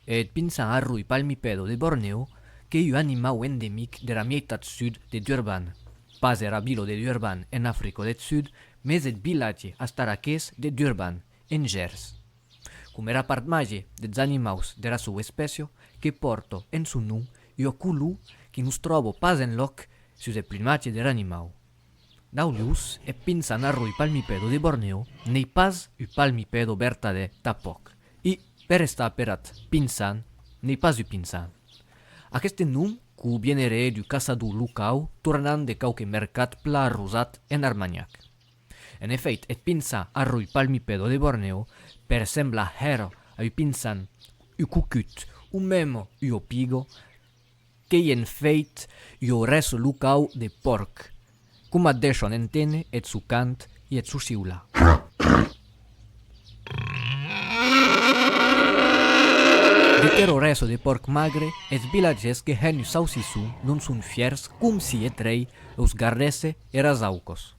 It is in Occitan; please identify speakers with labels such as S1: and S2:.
S1: Eth pinçan arroi palmipèdo de Borneo qu'ei un animau endemic dera mieitat sud de Durban, pas era vila de Durban en Africa deth Sud, mès eth vilatge astaraqués de Durban, en Gèrs. Com era part màger des animaus dera sua espècia que pòrto en son nom ua color que nos tròbo pas enlòc sus eth plumatge der animau. Dau lhus, eth pinsan arroi palmipedo de Borneo n'ei pas un palmipedo vertadèr tanpòc e, per estar per ath pinsan, n'ei pas un pinsan. Aqueste nom quo vieneré d'un caçador locau tornant de quauque mercat plan arrosat en Armanhac. En efèit, eth pinçar arroi palmipèdo de Bornèo per semblar hèr ui pinçan, ui cucut o mèm ui opigo, qu'ei en fèit ui orèso locau de pòrc, coma deishon enténer eth sò cant e eth sò siular. De ter orèso de pòrc magre, es vilatgèrs que hèn ui saucisson non son fièrs com si eth rei eus gardèsse eras aucos.